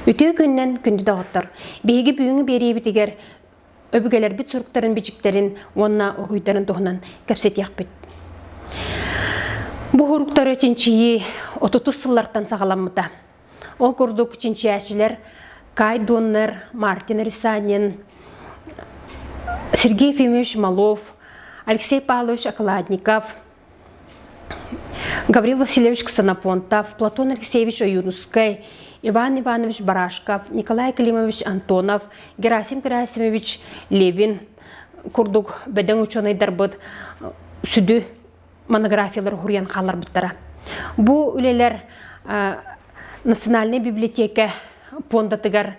Үтүө күннэн күндү доҕоттор! Биһиги бүгүҥҥү биэриэбитигэр өбүгэлэрбит суруктарын-бичиктэрин уонна уруһуйдарын туһунан кэпсэтиэхпит. Бу уруктары чинчийии 30 сыллартан саҕаламмыта. Ол курдук чинчээчилэр Кай Доннер, Мартин Рисанин, Сергей Ефимович Малов, Алексей Павлович Окладников, Гаврил Васильевич Ксенофонтов, Платон Алексеевич Оюрнскай, Иван Иванович Барашков, Николай Климович Антонов, Герасим Герасимович Левин курдук бөдөҥ учуонайдарбыт сүдү монографиялар уһуруйан хаалларбыттара. Бу үлэлэр Национальная библиотека пуондатыгар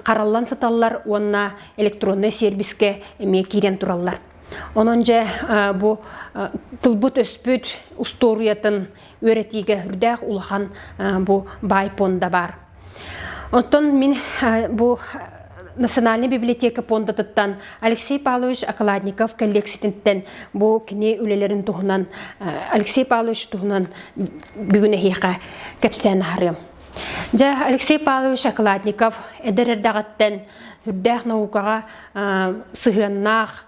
хараллан сыталлар уонна электроннай сервискэ эмиэ киирэн тураллар. Онон дьэ бу тылбыт өспүт устуоруйатын үөрэтиигэ үрдээх улахан бу бай пуонда баар. Оттон мин бу Национальнай библиотека пуондатыттан Алексей Павлович Околадников коллекциятыттан бу кини үлэлэрин туһунан Алексей Павлович туһунан бүгүн эһиэхэ кэпсээн аһарыам. Дьэ, Алексей Павлович Околадников эдэр эрдэҕиттэн үрдээх наукаҕа сыһыаннаах,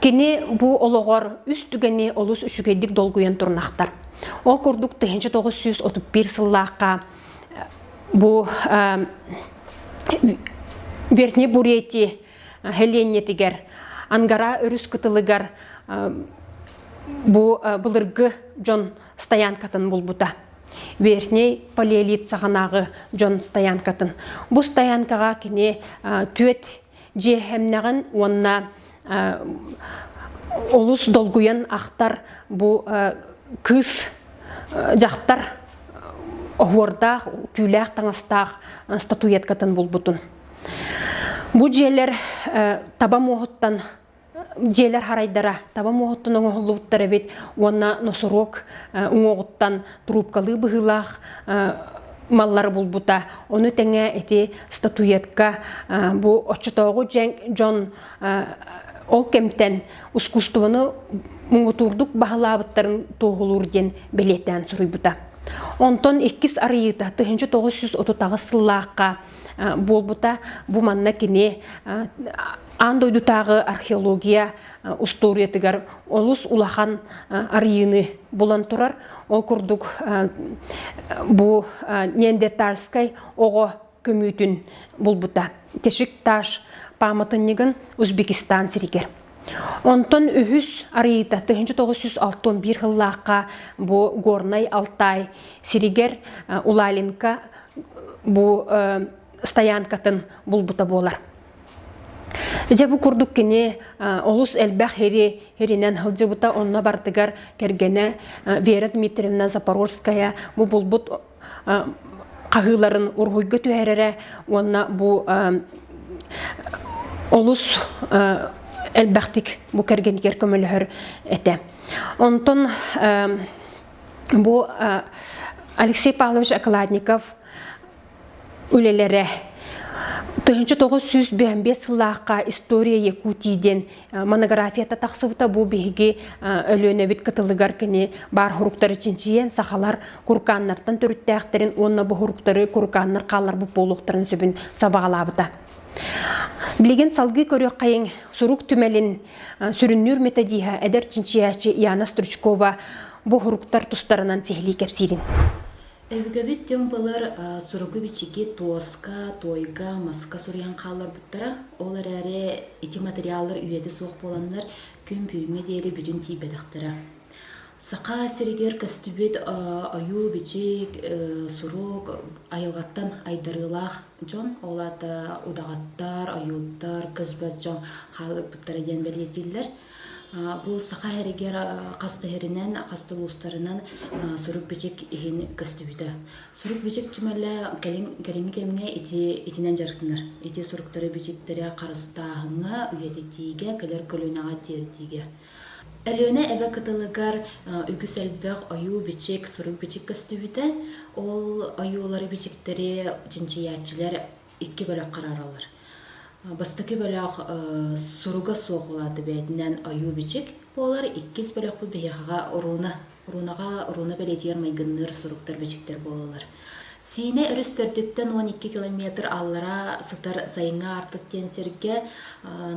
Кини бу олоҕор үс түгэни олус үчүгэйдик долгуйан турнахтар. Ол курдук 1931 сыллаахха бу Верхний Бурятии Хеленньэтигэр Ангара өрүс кытылыгар бу былыргы дьон стоянкатын булбута. Верхний палеолит саҕанааҕы дьон стоянкатын. Бу стоянкаҕа кини түөт дьиэһэмнэҕин уонна олус долгуйан ахтар бу кыыс дьахтар оһуордаах түүлээх таҥастаах статуэткатын булбутун бу дьиэлэр таба муоһуттан дьиэлэр харайдара таба муоһуттан оҥоһуллубуттар эбит уонна носорог уҥуоҕуттан трубкалыы быһыылаах маллары булбута. Ону тэҥэ ити статуэтка бу оччотооҕу дьон ол кэмтэн ускуустубаны муҥутуурдук баһылаабыттарын туоһулуур диэн бэлиэтээн суруйбута. Онтон иккис арыйыыта 1930 сыллаахха буолбута бу манна кини аан дойдутааҕы археология устуоруйатыгар олус улахан арыйыыны булан турар ол курдук бу неандертальскай оҕо көмүүтүн булбута тешикташ пааматынньыгын узбекистан сиригэр Онтон үһүс арыйыыта 1961 сыллаахха бу Горнай Алтай сиригэр Улаленко бу стоянкатын булбута буолар. Дьэ бу курдук кини олус элбэх хири хиринэн сылдьыбыта онно бартыгар кэргэнэ Вера Дмитриевна Запорожская бу булбут хаһыыларын уруһуйга түһэрэрэ уонна бу олус элбэхтик бу кэргэнигэр көмөлөһөр этэ. Онтон бу Алексей Павлович Окладников үлэлэрэ 1995 сыллаахха «История Якутии» диэн Монографията тахсыбыта бу биһиги Өлүөнэбит кытылыгар кини баар хуруктары чинчийэн сахалар куркааннартан төрүттээхтэрин уонна бу хуруктары куркааннар хаалларбыт буолуохтарын сөбүн сабаҕалаабыта. Билигин салгыы көрүөххэйин сурук түмэлин сүрүннүүр методиһа эдэр чинчийээчи Яна Стручкова бу хуруктар тустарынан сиһилии кэпсиирин. Өбүгэбит түҥ былыр суругу-бичиги туоска, туойга, маска суруйан хаалларбыттара. Ол эрээри ити материаллар үйэтэ суох буоланнар күн бүгүҥҥэ диэри бүтүн тиийбэтэхтэрэ. Саха сиригэр көстүбүт ойуу-бичик, сурук айылҕаттан айдарыылаах дьон, ол аата удаҕаттар, ойууттар, көс-бас дьон хаалбыттара диэн бэлиэтииллэр. Бу саха эригэр хастыһэринэн, хастылуустарынан сурук-бичик иһин көстүбүтэ. Сурук-бичик түмэлэ кэлим кэлиҥҥи кэмҥэ ити итинэн дьарыктанар. Ити суруктары-бичиктэри харыстааһыҥҥа, үйэтитиигэ, кэлэр көлүөнэҕэ тиэрдиигэ. Өлүөнэ эбэ кытылыгар үгүс элбэх ойуу-бичик, сурук-бичик көстүбүтэ. Ол ойуулары-бичиктэри чинчийээччилэр икки бөлөх қарааралар. Бастакы бөлөх суруга суох улааты бээтинэн ойуу бичик буолар иккис бөлөхпү биһиэхэҕэ урууна уруунаҕа урууна бэлиэтигэр майгынныыр суруктар бичиктэр буолалар Сиинэ өрүс төрдүттэн он икки километр аллара сытар сайыҥҥа артык диэн сиргэ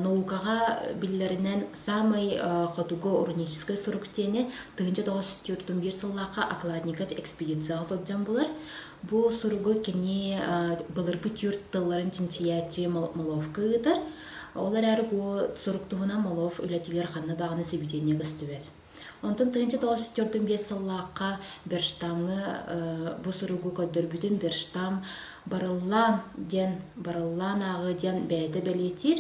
наукаҕа биллэринэн самый хотугу уруническай сурук диэни тыһыынча тоҕус сүүртүн биир сыллаахха окладникат экспедицияҕа сылдьан булар Бу суругу кини былыргы түүр тылларын чинчийээччи Моловка ыытар. Ол эрээри бу сурук туһунан Молов үлэтигэр ханна даҕаны сибидиэнньэ көстүбэт. Онтон тыһыынча тоҕус жүз төрдүн биэс сыллаахха Берштамҥа бу суругу көрдөрбүтүн Берштам барыллаан диэн барыллаан ааҕыы диэн бэйэтэ бэлиэтиир.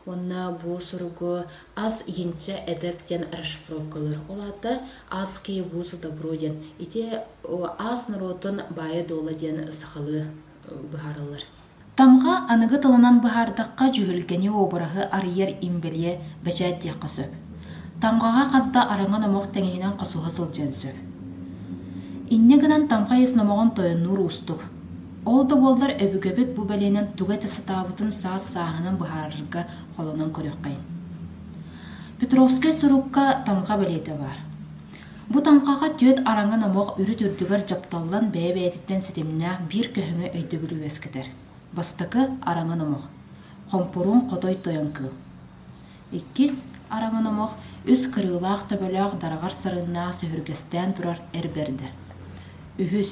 Уонна бу суругу Ас иһинчэ эдэр диэн расшифровкалыыр. Ол аата Ас киһи буусу добро диэн. Ити ас норуотун баайа-дуола диэн сахалыы быһаарыллар. Тамга аныгы тылынан быһаардахха дьүһүлгэни обраһы арыйар имбэлийэ бэчээт диэххэ сөп. Тамгаҕа хас да араҥа номох тэҥиһинэн хосуһа сылдьыан сөп. Инньэ гынан тамга ис номоҕун тойоннуур уустук. Ол да буоллар өбүгэбит бу бэлиэнэн тугу этэ сатаабытын саас-сааһынан быһаарарга холонон көрүөххэйин. Петровскай сурукка тамха бэлиэтэ баар. Бу тамхаҕа түөрт араҥа номох үрүт үрдүгэр дьапталлан бэйэ-бэйэтиттэн ситимнээх биир көһүҥэ өйдөбүлү үөскэтэр. Бастакы араҥа номох. Хомпуруун хотой тойон кыыл. Иккис араҥын омох үс кырыылаах төбөлөөх дараҕар сарыннаах сүһүргэстээн турар эр бэрдэ. Үһүс,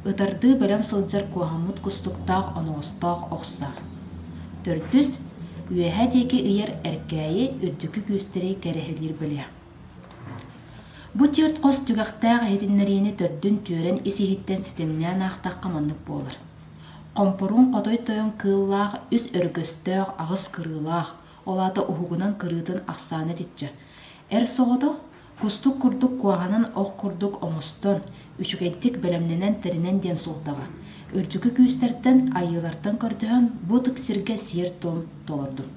ытардыы бэлэм сылдьар куоһаммыт кустуктаах оноҕостоох охсо. Төрдүс, үөһэ диэки ыйар эркээйи үрдүкү күүстэри кэрэһилиир бэлиэ. Бу түөрт хос түгэхтээх иһитиннэриини төрдүн түөрэн ис иһиттэн ситимнээн аахтахха маннык буолар. Хомпуруун хотой тойон кыыллаах үс өрүкөстөөх аҕыс кырыылаах, ол аата уһугунан кырыытын ахсаана итиччэ: эр соҕотох, кустук курдук куһаҕанын ох курдук оҥостон, үчүгэйдик бэлэмнэнэн тэринэн диэн суолтаҕа. Үрдүкү күүстэртэн, айыылартан көрдөһөн, бу ытык сиргэ сиэр-туом толордум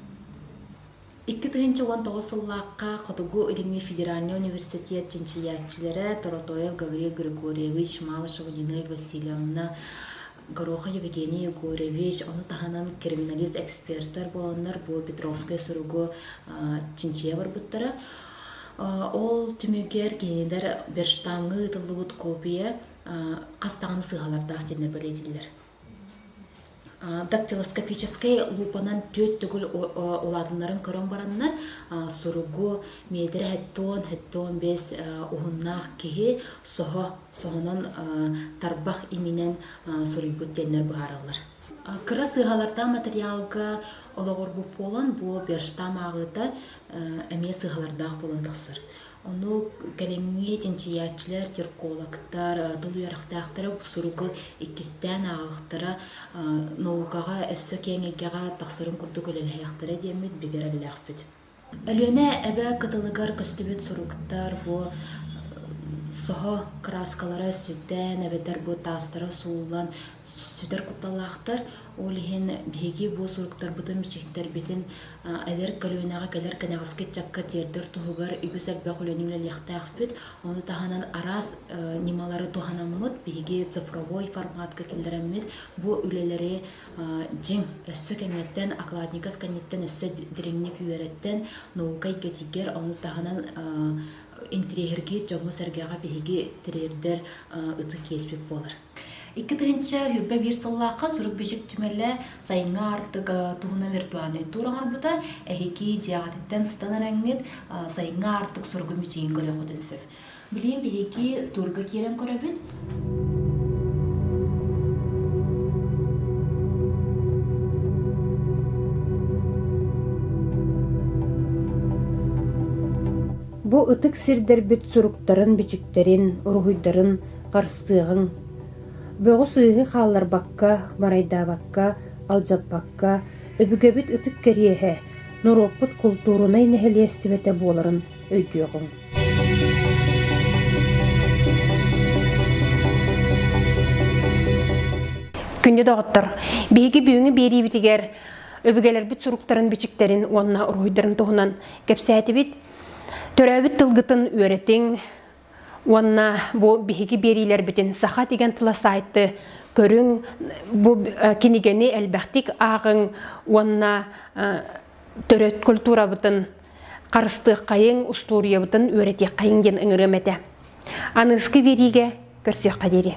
Икки тыһыынча уон тоҕус сыллаахха Хотугу илимҥи федеральнай университет чинчийээччилэрэ Торотоев Гаврил Григорьевич, Малышева Нина Васильевна, Гороха Евгений Егорович, ону таһынан криминалист экспертэр буоланнар бу Петровскай суругу чинчийэ барбыттара. Ол түмүгэр кинилэр берштаҥҥа ыытыллыбыт копия хас даҕаны сыыһалардаах диэн бэлиэтииллэр. Дактилоскопическай луупанан түөрт төгүл улаатыннарын көрөн бараннар, суругу метрэ хэттон, хэттон бэс уһуннаах киһи соһо соһонон тарбах иминэн суруйбут диэннэр быһаараллар. Кыра сыыһалардаах материалга олоҕурбут буолан, бу Берштам ааҕыыта эмиэ сыыһалардаах буолан тахсар. Ону кэлиҥҥи чинчийээччилэр, теркологтар, тыл үөрэхтээхтэрэ бу суругу иккистээн ааҕыахтара, наукаҕа өссө киэҥ эйгэҕэ тахсарын курдук үлэлэһиэхтэрэ диэммит бигэрэллээхпит. Өлүөнэ эбэ кытылыгар көстүбүт суруктар бу соһо краскалара сүтэн эбэтэр бу таастара сууллан сүтэр кутталлаахтар. Ол иһин биһиги бу суруктарбытын, бичиктэрбитин Эдэр көлүөнэҕэ кэлэр кэнэҕэски ыччакка тиэрдэр туһугар үгүс элбэх үлэни үлэлиэхтээхпит. Ону таһынан араас ньымалары туһанаммыт, биһиги цифровой форматка киллэрэммит бу үлэлэри дьиҥ өссө кэнниттэн, окладников кэнниттэн өссө дириҥник үөрэттэн, наука эйгэтигэр, ону таһынан интириэһиргиир дьоҥҥо-сэргэҕэ биһиги тириэрдэр ытык иэспит буолар. Икки тыһынча үппэ биир сыллаахха сурук-бичик түмэлэ сайыҥҥы артык туһунан виртуальный тур оҥорбута эһиги дьиэҕититтэн сытан эрэҥҥит сайыҥҥы артык суругун бичигин көрүөххүтүн сөп билиим биһиги турга киирэн көрөбүт Бу ытык сирдэрбит суруктарын-бичиктэрин, уруһуйдарын ыстыаҕыҥ. Бөҕү-сыыһы хаалларбакка, барайдаабакка, алдьаппакка, өбүгэбит ытык кэриэһэ, норуоппут култуурунай нэһилиэстибэтэ буоларын өйдүөҕүҥ. Күндү доҕоттор, биһиги бүгүҥҥү биэриибитигэр өбүгэлэрбит суруктарын-бичиктэрин уонна уруһуйдарын туһунан кэпсээтибит. Төрөөбүт тылгытын үөрэтиҥ, Уонна бу биһиги биэриилэрбитин саха деген тыла сайты көрүҥ, бу кинигени элбэхтик ааҕыҥ уонна төрөт культурабытын харыстыаххайың, устуоруйабытын үөрэтиэххайың диэн ыҥырыам этэ. Аныыскы биэриигэ көрсүөххэ диэри.